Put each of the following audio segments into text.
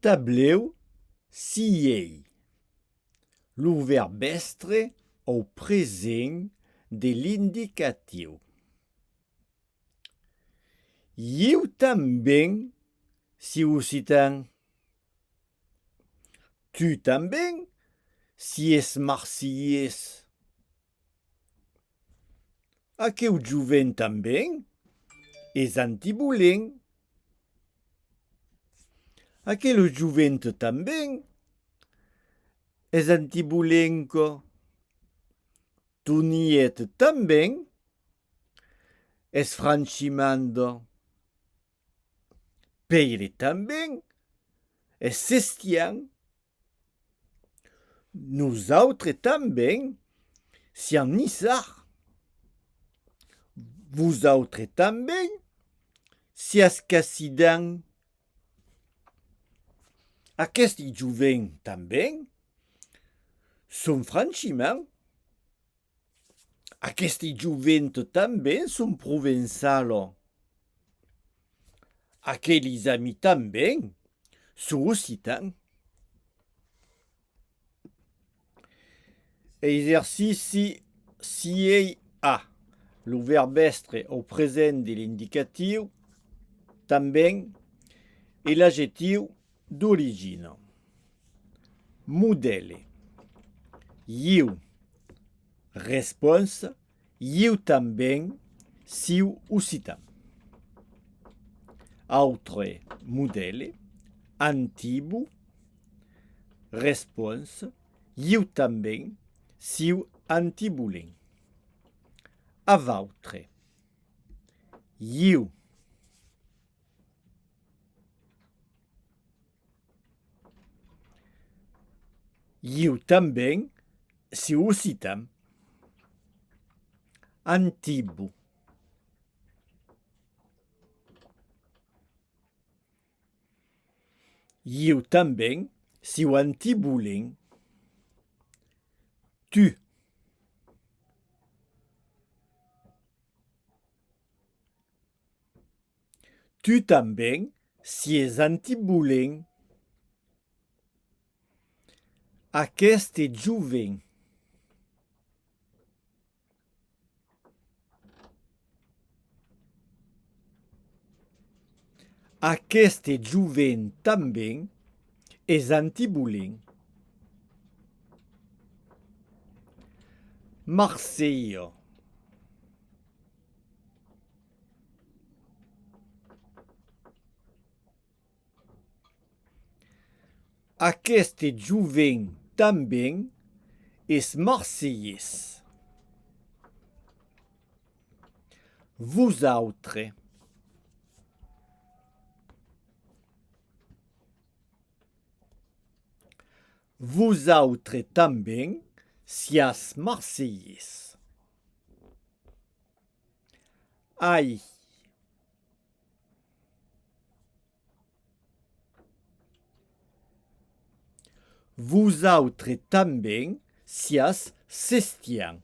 Tablèu siei lo vèrb èstre au present de l'indicatiu. Ieu tanben, si occitan. Tu tanben, si es marsilhés. Aqueu joven tanben es antibolent. Aquela jovent tanben es antibolenca. Toniet tanben es franchimanda. Pèire tanben es sestian Nosautres tanben siam nissar. Vosautres tanben siatz cassidan. Aqueste joven tanben son franchiment. Aqueste jovent tanben son provençalo. Aquelis ami tanben son occitan. Exercici 6 a. Lo vèrb èstre au present de l'indicatiu tanben e l'adjectiu D'origina. Modèle. Ieu. Responsa, Ieu tanben siu occitan. Autre modèle. Antibu. Responsa, Ieu tanben siu antibulen. Avautre. Ieu. Ieu tanben, si o citam. Antibu. Ieu tanben, si o antibulin. Tu. Tu tanben sies antibolent. Aqueste joven. Aqueste joven tanben es antibolent. Marselha. Aqueste joven tanben es marselhés. Vos autres? Vosautre tanben siás marselhés. Ai. Vosautre tanben siás sestian.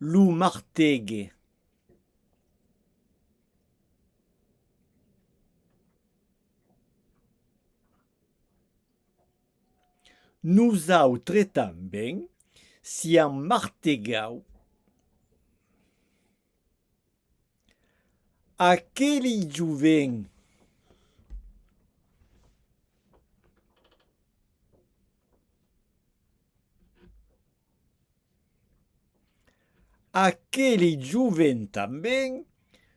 Lo martège. Nosautre tanben siam martegau. Aqueli joven. Aqueli joven tanben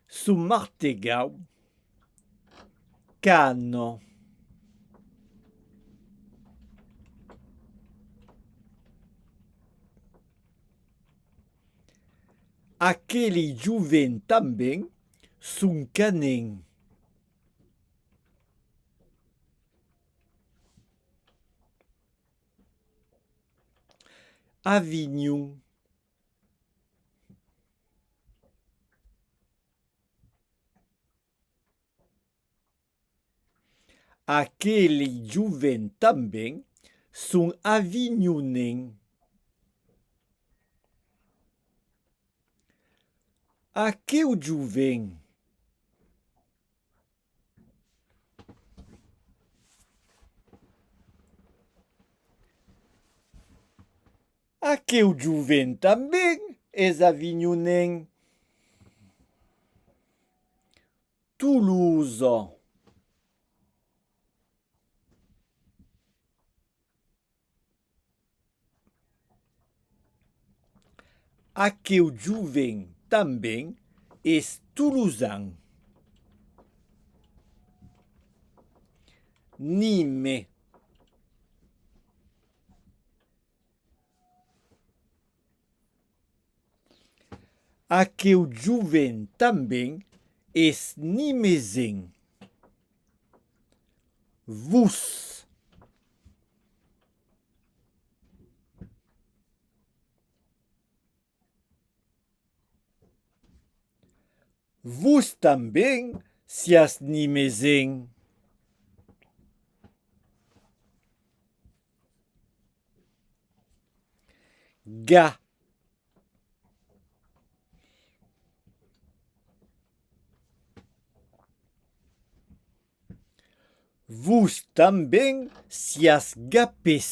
s'o martegau quand Aqueli joven tanben son canen. Avinhon. Aqueli joven tanben son avinhonen. Aqueu joven. Aqueu joven tanben es avinhonen. Toulouse. Aqueu joven tanben es toulousan. Nîmes. Aqueu joven tanben es nimesenc. Vos. Vos tanben siás nimesenc. ga vos tanben siás ga pes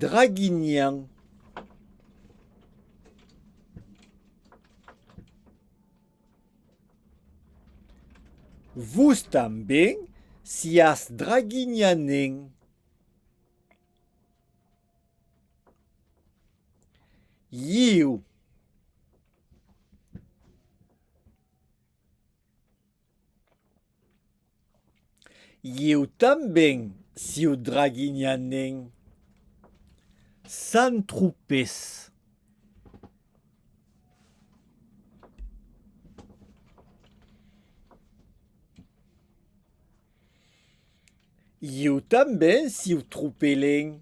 draguinhan Vos tanben siás draguinhanen. Ieu. Ieu tanben, sieu draguinhanen. Sant Tropés. Ieu tanben, sieu tropelen.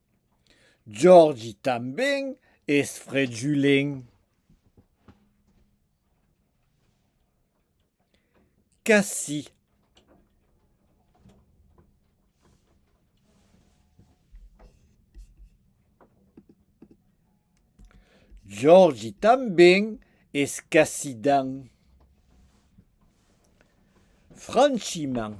Jordi tanben es frejulen. Qu'ací. Jordi tanben es cacidan. Franchiman.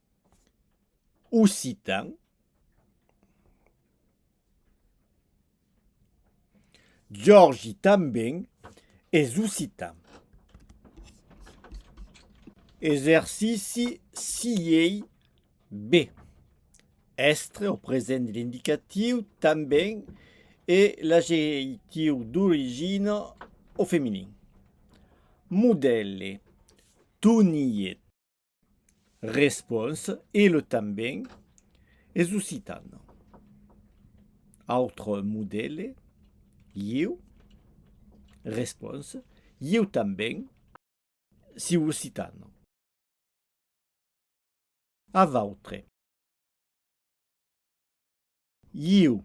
occitan Giorgi tanben es occitan. Exercici 6 B. Èstre o present de l'indicatiu tanben e l'ageitiu d'origina o feminin. Modèle, tonièt. Respons, El tanben es occitan. Autre modèle, Ieu. Respons, Ieu tanben siu occitan. A vautre. Ieu.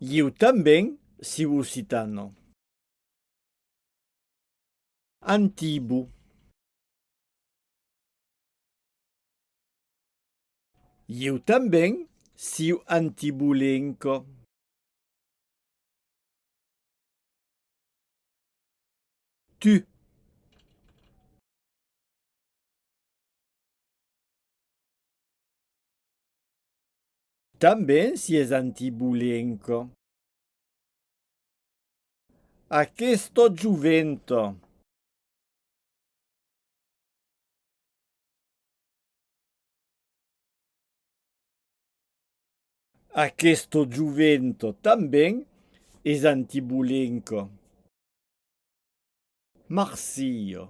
Ieu tanben siu occitano. Antibu. Ieu tanben siu antibulenco. Tu. Tanben si es antibulenc. Aqueth tot jovent. Aqueth tot jovent tanben es antibulenc. Marsilh.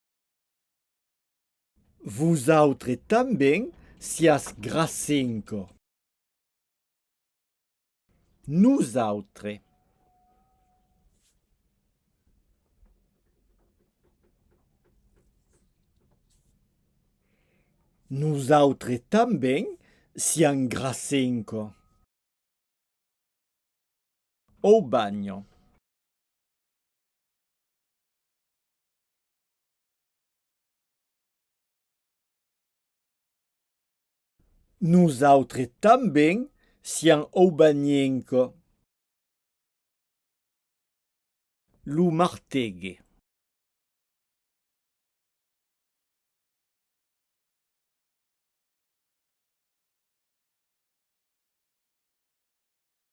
Vosautre tanben siás grasenco. Nosautre. Nosautre tanben sián grasenco. Au bagno. Nosautres tanben siam aubanienco. Lo martegue.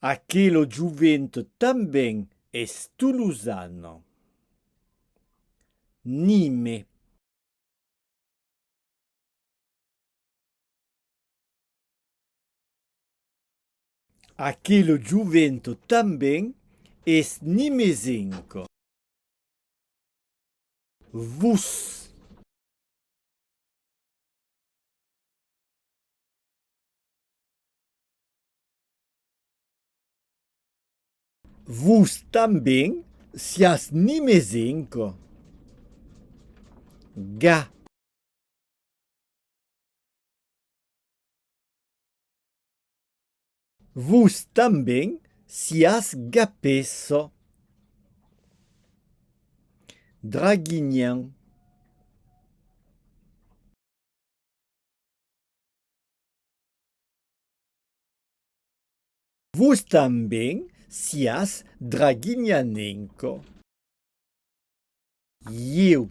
Aquelo jovent tanben es tolosan. Nime. Aquelo jovent tanben es nimesenc. Vos. Vos tanben, siás nimesenc. Ga. Vos tanben siás gapesso. Draguinhan. Vos tanben siás draguinhanenco. Ieu.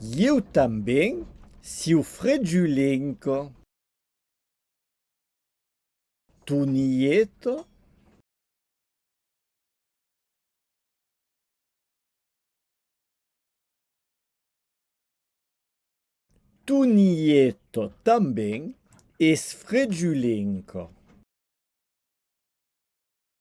Ieu tanben, siu fregiulenco. Tu Nieto. Tu Nieto tanben es fregiulenco.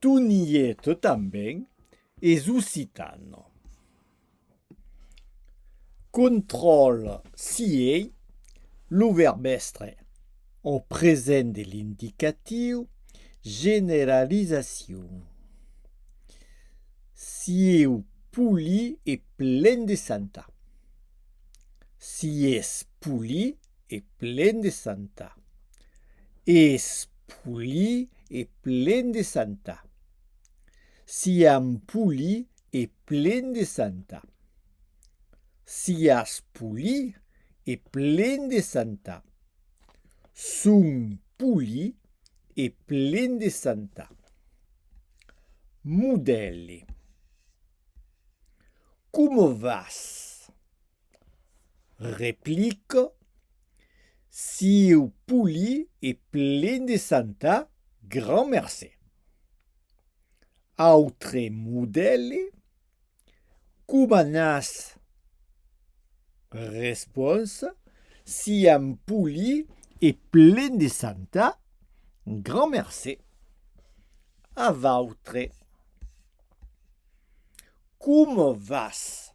Tu n'iet tanben es occitano. Contròl si ei lo verbèstre au present de l'indicatiu generalizacion. Sieu poli e plen de santa. Si es poli. e plen de santa. Es poli e plen de santa. Siam poli e plen de santa. Sias poli e plen de santa. Son poli e plen de santa. Modèle. Coma vas? Replico, Sieu poli e plen de santa, grand mercé. Autre modèle, Coma n'as? Responsa, Siam poli e plen de santa, grand mercé. A vautre, Coma vas?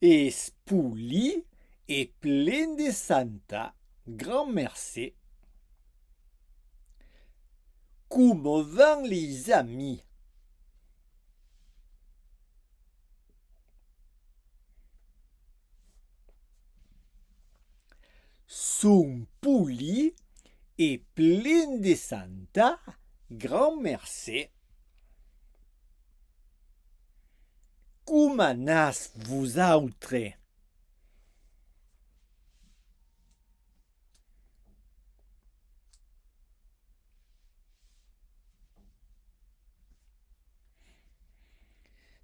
Es poli e plen de santa gran mercé. Coma van les amis? Son poli e plen de santa gran mercé. Coma n'as vosautre?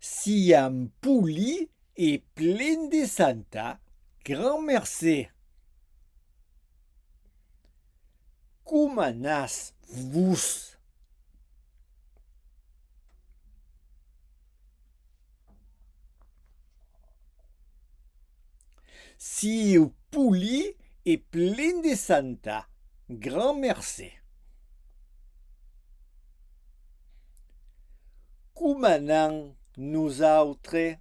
Siam poli e plen de santa, grand mercé. Coma n'as vos? Sieu poli e plen de santa. Grand mercé. Coma anam nosautre?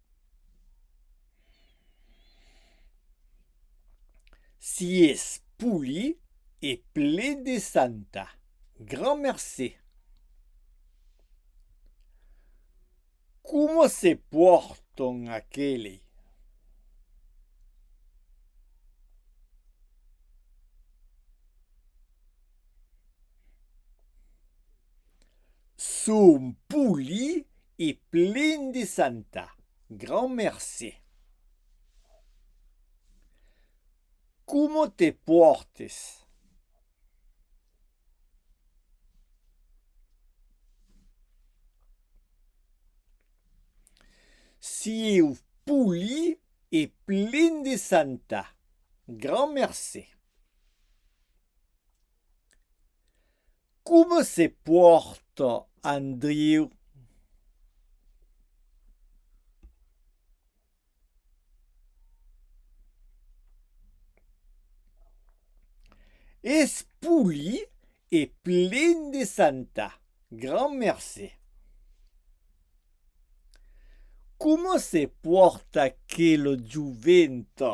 Sies poli e ple de santa. Grand mercé. Coma se pòrton aqueli? Son poli e plen de santa. Grand mercé. Coma te pòrtes? Sieu poli e plen de santa. Grand mercé. Coma se pòrta Andriu? Es poli e plen de santa. Grand mercé. Coma se pòrta aquela joventa?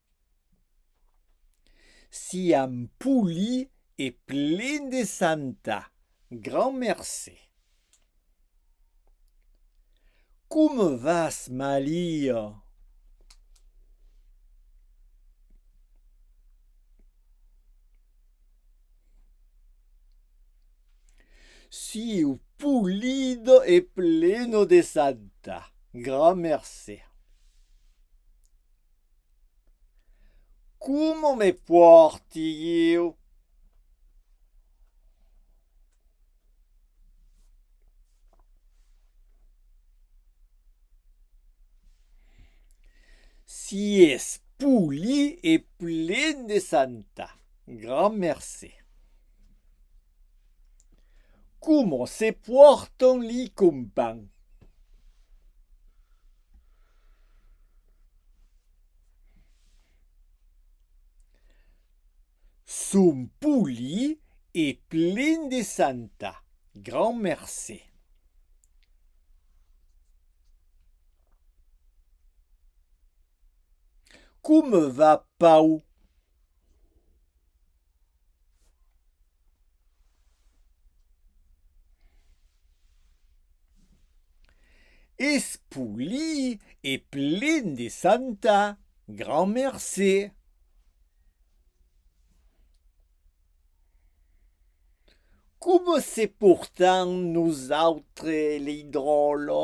Siam poli e plen de santa. Grand mercé. Comme vas, Malia? Siu polido e pleno de santa. Grand mercé. Coma me pòrti ieu? Si es poli e plen de santa. Grand mercé. Coma se pòrtan li companh? Son poli e plen de santa, grand mercé. Comme va Pau? Es polii e plen de santa, grand mercé. Coma se portam nosautre lei dròlo?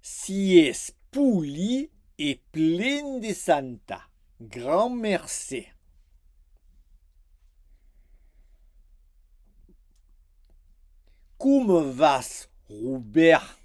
Si es poli e plen de santa. Grand mercé. Coma vas, Robèrt?